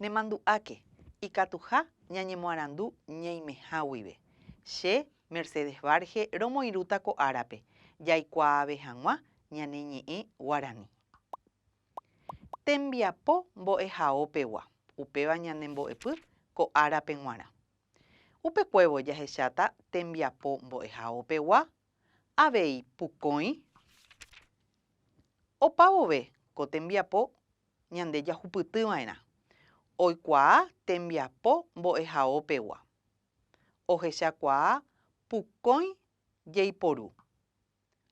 Nemandu'áke ikatuha ñañemoarandu ñeimeha guive. Che, Mercedes Varge romoirũta ko árape jaikuaave hag̃ua ñane ñe'ẽ guarani. Tembiapo mbo'ehaópegua, upéva ñane mbo'epy ko árape g̃uarã. Upekuévo jahecháta tembiapo mbo'ehaópegua avei pukõi. Opa vove ko tembiapo ñande jahupyty va'erã, oikuaa tembiapo mbo'ehao pegua, ohechakuaa pukõi jeiporu,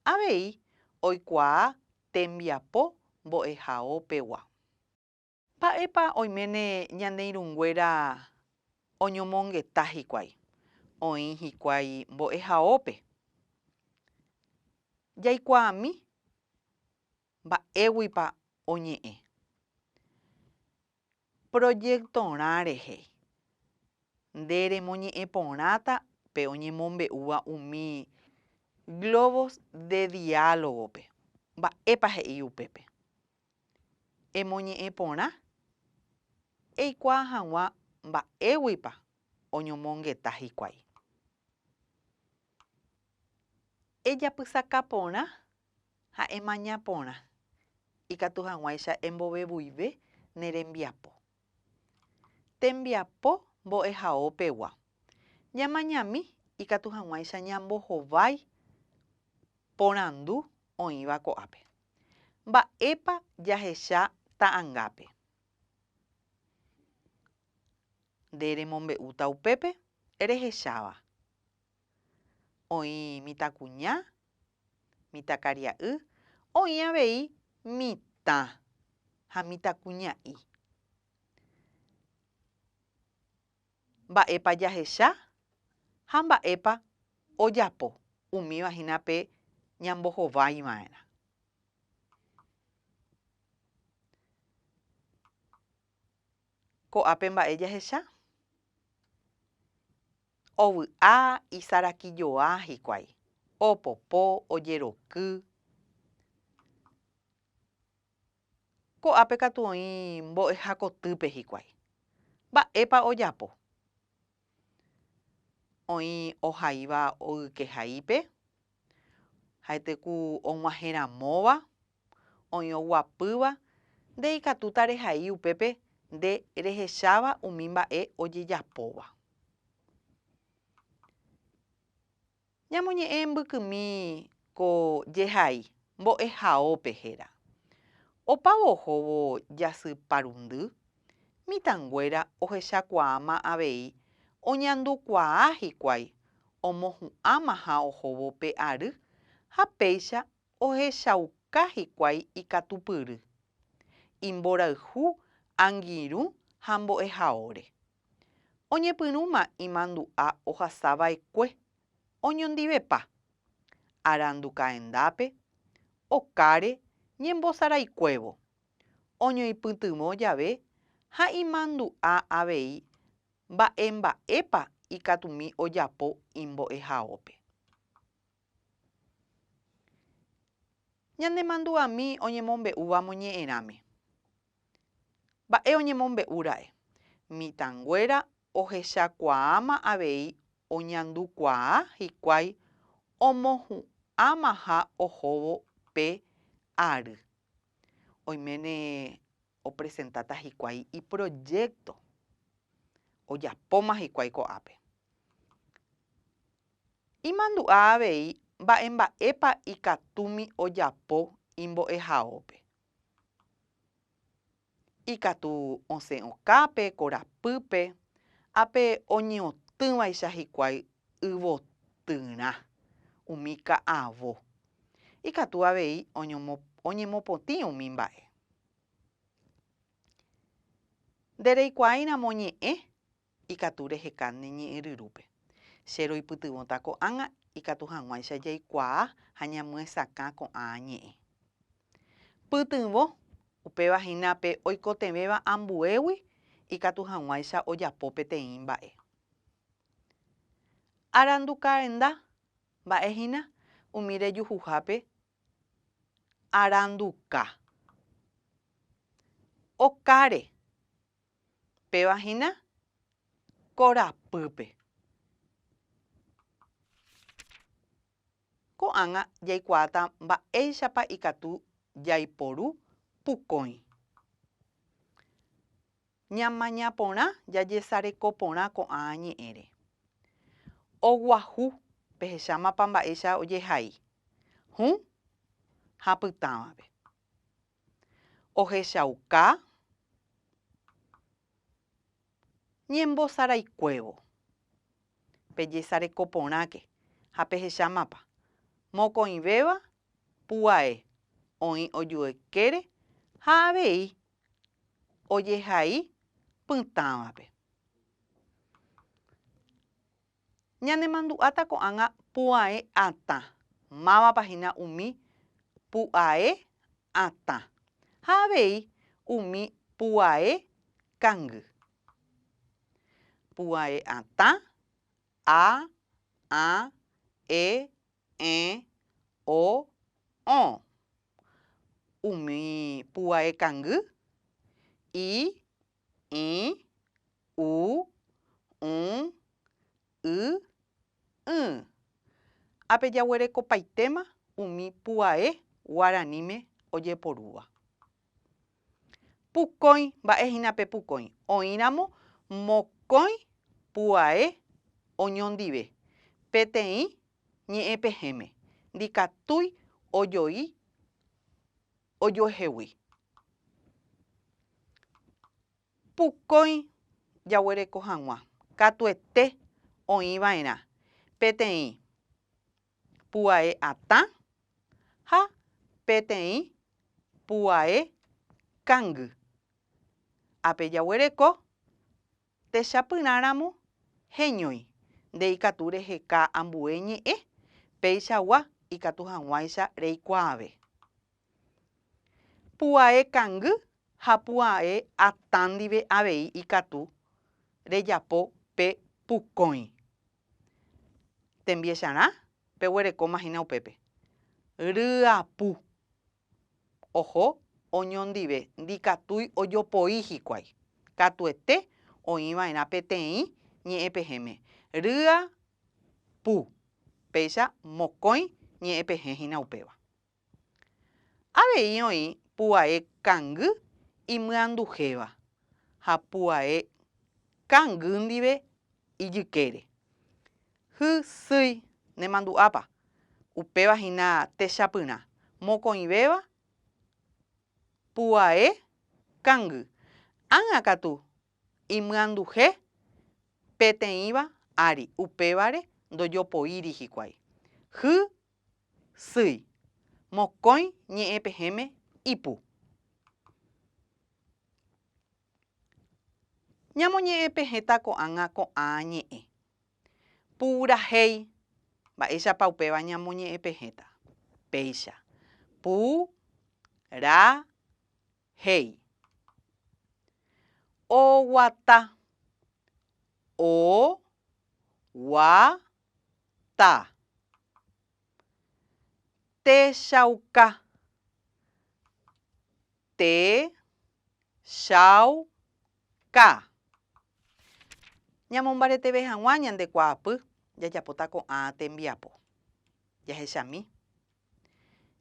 avei oikuaa tembiapo mbo'ehao pegua. Mba'épa oiméne ñane irũnguéra oñomongeta hikuái? Oĩ hikuái mbo'ehaópe. Jaikuaami mba'éguipa oñe'ẽ. Projectorã rehe, nde remoñe'ẽ porãta pe oñemombe'úva umi globos de diálogo-pe. Mba'épa he'i upépe? Emoñe'ẽ porã eikuaa hag̃ua mba'éguipa oñomongeta hikuái. Ejapysaka porã ha emaña porã ikatu hag̃uáicha embovevuive ne rembiapo. Tembiapo mbo'ehaópegua, ñamañami ikatu hag̃uáicha ñambohovái porandu oĩva ko'ápe. Mba'épa jahecha ta'angápe? Nde remombe'úta upépe rehecháva. Oĩ mitãkuña, mitãkaria'y, oĩ avei mitã ha mitãkuña'i. Mba'épa jahecha ha mba'épa ojapo umíva hína pe ñambohovaiva'erã. Ko'ápe mba'e jahecha? Ovy'a, isarakijoa hikuái, opopo, ojeroky. Ko'ápe katu oĩ mbo'eha kotýpe hikuái. Mba'épa ojapo? Oĩ ohaíva ogykehaípe, ha'ete ku og̃uahẽ ramóva, oĩ oguapýva, nde ikatúta rehai upépe nde rehecháva umi mba'e ojejapóva. Ñamoñe'ẽ mbykymi ko jehai mbo'ehaópe héra. Opávo ohóvo jasy parundy, mitãnguéra ohechakuaáma avei oñandukuaa hikuái omohu'ãmaha ohóvo pe ary ha péicha Ohechauka hikuái ikatupyry, imborayhu angirũ ha mbo'ehaóre. Oñepyrũma imandu'a ohasa vaekue, oñondivepa. Arandu kaendápe, okáre ñembosaraikuévo, oñoipytyvõ jave ha imandu'a avei mba'emba'épa ikatumi ojapo imbo'ehaópe. Ñanemandu'ami oñemombe'úva moñe'ẽrãme. Mba'e oñemombe'úra'e? Mitãnguéra ohechakuaáma avei oñandukuaa hikuái omohu'ãmaha ohóvo pe ary. Oiméne opresentáta hikuái iprojékto, ojapóma hikuái ko'ápe. Imandu'a avei mba'emba'épa ikatúmi ojapo imbo'ehaópe. Ikatu osẽ okápe, korapýpe, ha pe oñeotỹvaicha hikuái yvotyrã, umi ka'avo. Ikatu avei oñemopotĩ umi mba'e. Nde reikuaáiramo ñe'ẽ ikatu reheka ne ñe'ẽryrúpe. Che roipytyvõta ko'ág̃a ikatu hag̃uáicha jaikuaa ha ñamyesakã ko'ã ñe'ẽ. Pytyvõ, upéva hína pe oikotevẽva ambuégui ikatu hag̃uáicha ojapo peteĩ mba'e. Arandukarenda mba'e hína umi rejuhuhápe aranduka. Okáre. Péva hína korapýpe. Ko'ág̃a jaikuaáta mba'éichapa ikatu jaiporu pukõi. Ñamaña porã jajesareko porã ko'ã ñe'ẽre. Oguahu pehechámapa mba'éicha ojehai, hũ ha pytãvape. ohechauka ñembosaraikuévo, pejesareko porãke ha pehecha mapa, mokõivéva pu'ae oĩ ojuekére ha avei ojehai pytãvape. Ñanemandu'áta ko'ág̃a pu'ae atã. Mávapa hína umi pu'ae atã ha avei umi pu'ae kangy? Pu'ae atã, a, ã, e, ẽ, o, õ. Umi pu'ae kangy, i, ĩ, u, ũ, y, ỹ. Apejaguerekopaitéma umi puae guaraníme ojeporúva. Pukõi, mba'e hína pe pukõi? Oĩramo mokõi puae oñondive peteĩ ñe'ẽpehẽme, ndikatúi ojoi ojoehegui. Pukói jaguereko hag̃ua katuete oĩ va'erã peteĩ pu'ae atã ha peteĩ pu'ae kangy. Ápe jaguereko. Techapyrãramo heñói, nde ikatu reheka ambue ñe'ẽ, péichagua ikatu hag̃uáicha reikuaave. Pu'ae kangy ha pu'ae atã ndive avei ikatu rejapo pe pukõi. Tembiecharã peguerekóma hína upépe. Ryapu. Oho oñondive ndikatúi ojopoi hikuái. Katuete oĩ va'erã peteĩ ñe'ẽpehẽme, rýa pu, péicha mokõi ñe'ẽpehẽ hína upéva. Avei oĩ puae kangy imyanduhéva ha puae kangy ndive ijykére. Hy sýi, nemandu'ápa. Upéva hína techapyrã, mokõivéva, pu'ae, kangy. Ág̃a katu, imyanduhe peteĩva ári, upévare ndojopoíri hikuái. Hy sýi, mokõi ñe'ẽpehẽme ipu. Ñamoñe'ẽ pe heta ko'ág̃a ko'ã ñe'ẽ. Purahéi. Mba'éichapa upéva ñamoñe'ẽ pe heta? Péicha. Pu. Ra. Héi. Oguata. O. Gua. Ta. Techauka. Techauka. Ñamombareteve hag̃ua ñande kuaapy jajapóta ko'ã tembiapo. Jahechami.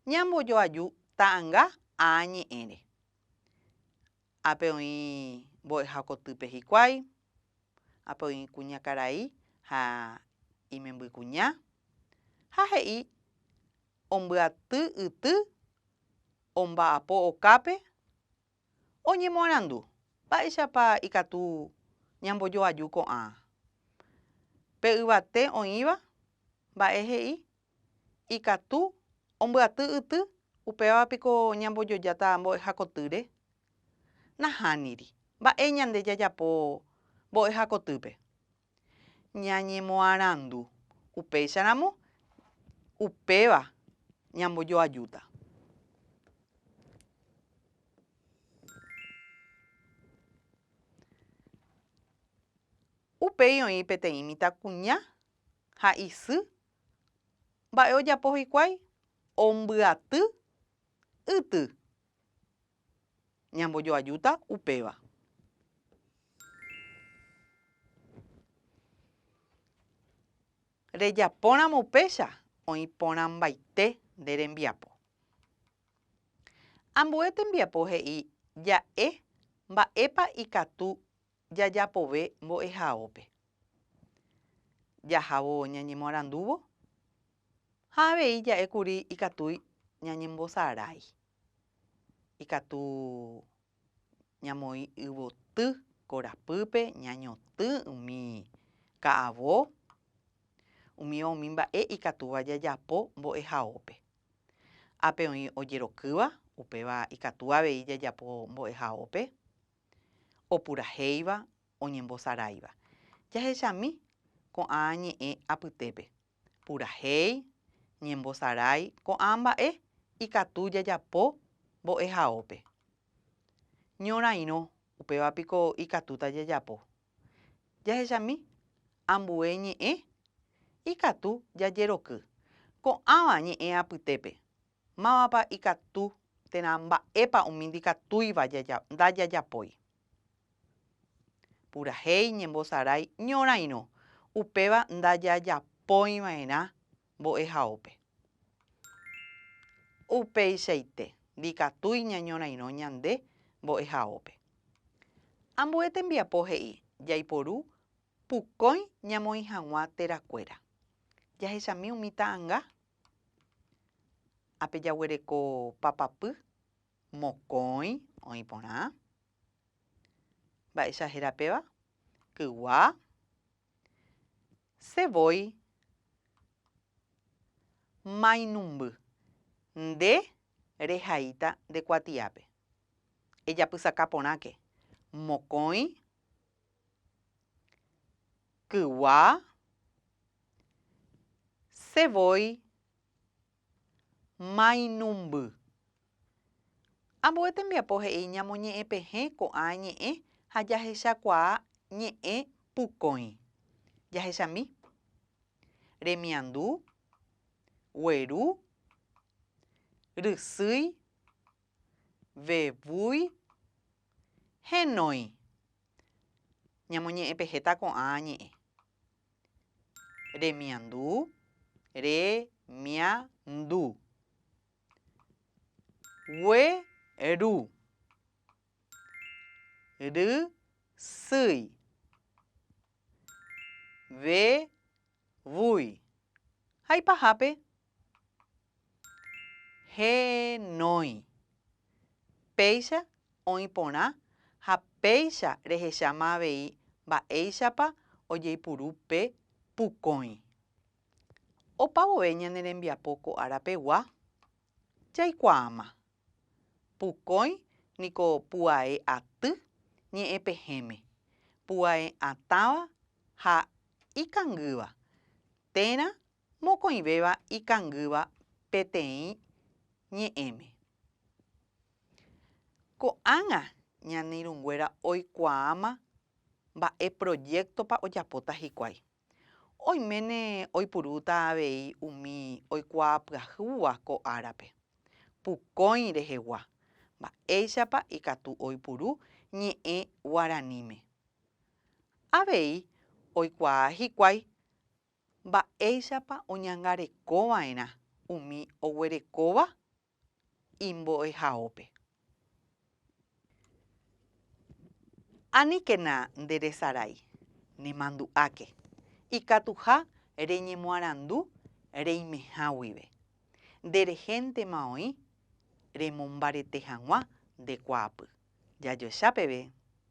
Ñambojoaju ta'ãnga aa ñe'ẽre. Ápe oĩ mbo'eha kotýpe hikuái, ápe oĩ kuñakarai ha imembykuña, ha he'i ombyaty yty omba'apo okápe, oñemoarandu mba'éichapa ikatu ñambojoaju ko'ã pe yvate oĩva, mba'e he'i ikatu ombyaty yty, upéva piko ñambojojáta mbo'ehakotýre? Nahániri. Mba'e ñande jajapo mbo'ehakotýpe? Ñañemoarandu. Upéicharamo, upéva ñambojoajúta. Upéi oĩ peteĩ mitãkuña ha isy Mba'e ojapo hikuái? Ombyaty yty. Ñambojoajúta upéva. Rejapóramo upéicha, oĩ porãmbaite nde rembiapo. Ambue tembiapo he'i ja'e mba'épa ikatu jajapove mbo'ehaópe. Jahávo ñañemoarandúvo ha avei ja'e kuri ikatúi ñañembosarái. Ikatu ñamoĩ yvoty korapýpe ñañotỹ umi ka'avo, umíva umi mba'e ikatúva jajapo mbo'ehaópe. Ápe oĩ ojerokýva, upéva ikatu avei jajapo mbo'ehaópe. Opurahéiva, oñembosaráiva. Jahechami ko'ã ñe'ẽ apytépe. Purahéi, ñembosarái ko'ã mba'e ikatu jajapo mbo'ehaópe. Ñorairõ, upéva piko ikatúta jajapo. Jahechami ambue ñe'ẽ ikatu jajeroky. Ko'ãva ñe'ẽ apytépe. Mávapa ikatu térã mba'épa umi ndikatúiva ndajajapói. Purahéi ñembosarái ñorãirõ, upéva ndajajapóiva'erã mbo'ehaópe. Upeichaite ndikatúi ñañorãirõ ñande mbo'ehaópe. Ambue tembiapo he'i jaiporu pukõi ñamoĩ hag̃ua terakuéra. Jahechami umi ta'anga Ápe jaguereko papapy, mokõi oĩ porã. Mba'éicha héra péva? Kygua, Che voi mainumby. Nde rehaíta nde kuatiápe. Ejapysaka porãke. Mokõi, kygua. Che voi mainumby. Ambue tembiapo he'i ñamoñe'ẽpehẽ ko'ã ñe'ẽ ha jahechakuaa ñe'ẽ pukõi. Jahechami. Remiandu, gueru, rysýi, vevúi, henói. Ñamoñe'ẽpehéta ko'ã ñe'ẽ. Remiandu, remiandu. Gueru, rysýi. Vevúi. Ha ipahápe Henói. Péicha oĩ porã ha péicha rehecháma avei mba'éichapa ojeipuru pe pukõi. Opa vove ñane rembiapo ko ára pegua, jaikuaáma. Pukõi niko pu'ae aty, ñe'ẽ pehẽme, pu'ae atãva ha ikangýva, térã mokõivéva ikangýva peteĩ ñe'ẽme. Ko'ág̃a ñane irũnguéra oikuaáma mba'e projéktopa ojapóta hikuái. Oiméne oipurúta avei umi oikuaa pyahúva ko árape, pukõi rehegua, mba'éichapa ikatu oipuru ñe'ẽ guaraníme. Avei oikuaa hikuái Mba'éichapa oñangarekova'erã umi oguerekóva imbo'ehaópe? Aníkena nde resarái, nemandu'áke, ikatuha reñemoarandu reimeha guive, nde rehéntema oĩ remombarete hag̃ua nde kuaapy. Jajoecha peve.